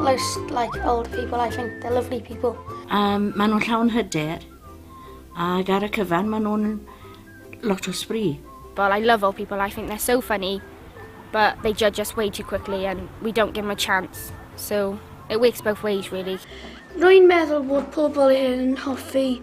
Most like old people, I think. They're lovely people. Um, maen nhw'n llawn hyder, ac ar y cyfan maen nhw'n lot o sbri. Well, I love old people. I think they're so funny, but they judge us way too quickly and we don't give them a chance. So it works both ways, really. Rwy'n meddwl bod pobl yn hoffi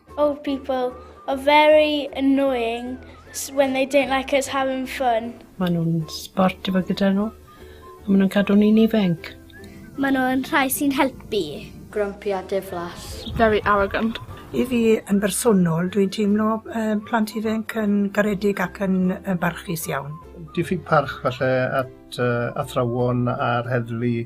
Old people are very annoying when they don't like us having fun. Maen nhw'n sport efo gyda nhw. A maen nhw'n cadw ni'n ifanc. Maen nhw'n rhai sy'n helpu. Grumpy a diflas. Very arrogant. I fi yn bersonol, dwi'n teimlo uh, plant ifanc yn garedig ac yn uh, barchus iawn. Diffyg parch falle at uh, athrawon a'r heddlu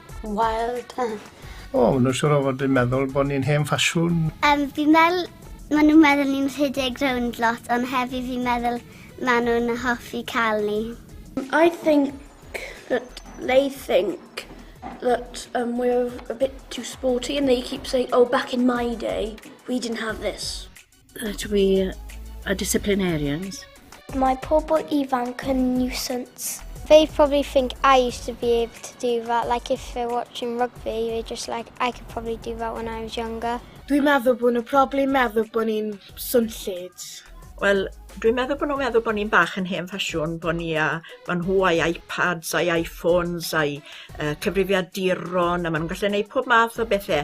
Wild. O, maen nhw'n siŵr o fod yn meddwl bod ni'n hen ffasiwn. Um, fi'n meddwl, maen nhw'n meddwl ni'n rhedeg rownd lot, ond hefyd fi'n meddwl maen nhw'n hoffi cael ni. I think that they think that um, we're a bit too sporty and they keep saying, oh, back in my day, we didn't have this. That we are disciplinarians. Mae pobl ifanc yn nuisance. They probably think I used to be able to do that. Like if they're watching rugby, they're just like, I could probably do that when I was younger. Dwi'n meddwl bod nhw probably meddwl bod ni'n swnllyd. Wel, dwi'n meddwl bod nhw'n meddwl bod ni'n bach yn hen ffasiwn, bod ni a ma' nhw a'i iPads a'i iPhones a'i uh, cyfrifiaduron a maen nhw'n gallu gwneud pob math o bethau.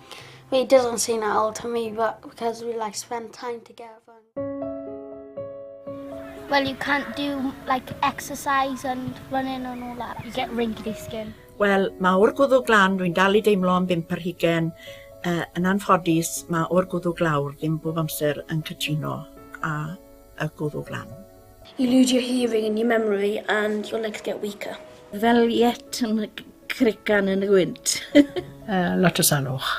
It doesn't seem that old to me, but because we like spend time together. Well, you can't do like exercise and running and all that. You get wrinkly skin. Wel, mae o'r gwddw glan, dwi'n dal i deimlo am bimp ar hugen. Uh, yn anffodus, mae o'r gwddw glawr ddim bob amser yn cytuno a a gwrw glan. You lose your hearing and your memory and your legs get weaker. Fel yet yn y crican yn y gwynt. uh, lot o salwch.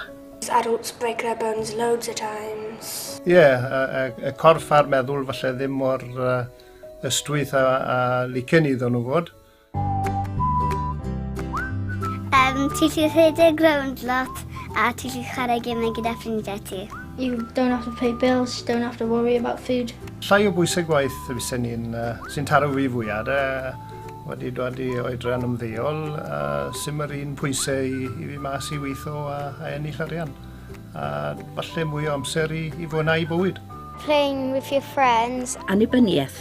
Adults break their bones loads of times. Ie, yeah, y, y, y corff a'r meddwl falle ddim mor uh, ystwyth a, a licen iddyn nhw fod. Um, ti lli rhedeg rownd lot a ti lli chwarae gemau gyda ffrindiau ti. You don't have to pay bills, you don't have to worry about food. Llai o bwysau gwaith fysen ni'n uh, sy'n taro fi fwyaf. Uh, wedi dod i oedran ymddeol, uh, sy'n yr un pwysau i, i fi mas i weithio a, a ennill arian. A falle mwy o amser i, i fwynhau bywyd. Playing with your friends. Annibyniaeth.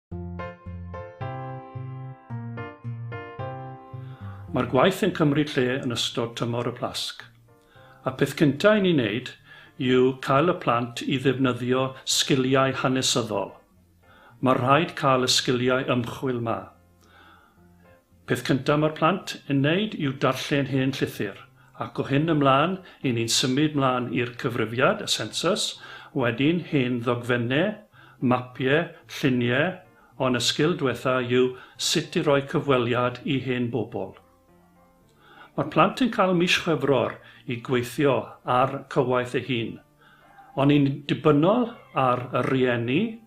Mae'r gwaith yn cymryd lle yn ystod tymor y Plasg. A peth cyntaf i ni wneud yw cael y plant i ddefnyddio sgiliau hanesyddol. Mae rhaid cael y sgiliau ymchwil 'ma. Peth cynta mae'r plant yn neud yw darllen hen llythyr, ac o hyn ymlan i ni'n symud mlan i'r cyfrifiad, y sensws, wedyn hen ddogfenne, mapie, llunie, on y sgil dwetha yw sut i roi cyfweliad i hen bobl. Mae'r plant yn cael mis Chwefror i gweithio ar cywaith ei hun, on yn dibynnol ar y rhieni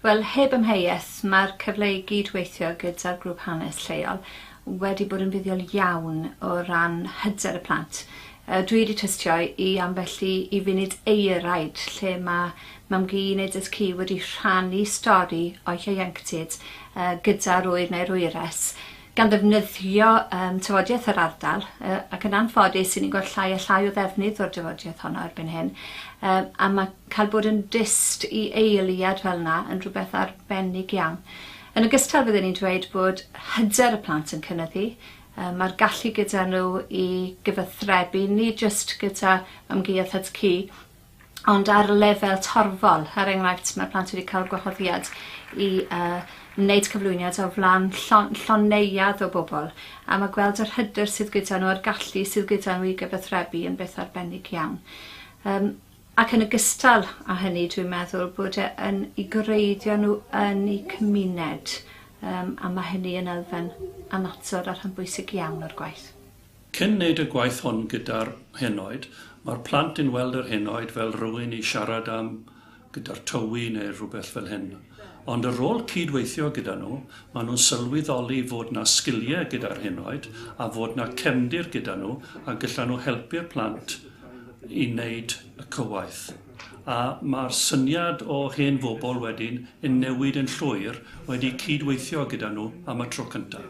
Wel, heb amheuaeth, mae'r cyfle i gyd-weithio gyda'r grŵp hanes lleol wedi bod yn fuddiol iawn o ran hyder y plant. Dwi wedi tystio i ambell i i funud euraid lle mae Mam-gu neu Dad-cu wedi rhannu stori o'u hieuenctid gyda'r ŵyr neu'r wyres, gan ddefnyddio um, tafodiaith yr ardal, ac yn anffodus, 'yn ni'n gweld llai a llai o ddefnydd o'r dafodiaith honno erbyn hyn, a mae Cael bod yn dyst i eiliad fel 'na yn rhywbeth arbennig iawn. Yn ogystal bydden i'n dweud bod hyder y plant yn cynyddu, yy ma'r gallu gyda nhw i gyfathrebu nid jyst gyda ymgaeodd HCQ ond ar lefel torfol, er enghraifft mae'r plant wedi cael gwahoddiad i yy wneud cyflwyniad o flan llon- llon neuadd o bobl a mae gweld yr hyder sydd gyda nhw a'r gallu sydd gyda nhw i gyfathrebu yn beth arbennig iawn. Yym. Ac yn ogystal â hynny, dwi'n meddwl bod e yn i gwreiddio nhw yn eu cymuned, um, a mae hynny yn elfen annatod a rhan bwysig iawn o'r gwaith. Cyn wneud y gwaith hon gyda'r henoed, mae'r plant yn weld yr henoed fel rhywun i siarad am, gyda'r tywi neu rhywbeth fel hyn. Ond ar ôl cyd-weithio gyda nhw, maen nhw'n sylweddoli fod 'na sgiliau gyda'r henoed a fod 'na cefndir gyda nhw a gyllan nhw helpu'r plant i wneud y cywaith. A mae'r syniad o hen fobl wedyn yn newid yn llwyr wedi cyd-weithio gyda nhw am y tro cyntaf.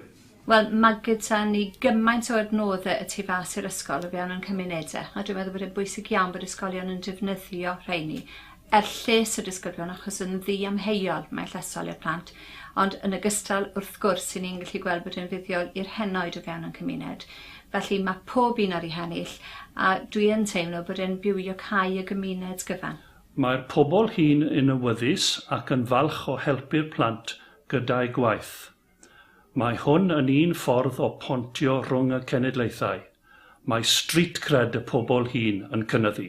Wel, mae gyda ni gymaint o adnoddau y tu fas i'r ysgol o fewn ein cymunedau, a dwi'n meddwl bod e'n bwysig iawn bod ysgolion yn defnyddio rheini er lles y disgyblion achos yn ddiamheuol mae'n llesol i'r plant, ond yn ogystal wrth gwrs 'yn ni'n gallu gweld bod e'n fuddiol i'r henoed o fewn ein cymuned. Felly mae pob un ar ei hennill, a dwi yn teimlo bod e'n bywiocae y gymuned gyfan. Mae'r pobl hŷn yn awyddus ac yn falch o helpu'r plant gyda'u gwaith. Mae hwn yn un ffordd o pontio rhwng y cenedlaethau. Mae street cred y pobl hŷn yn cynyddu.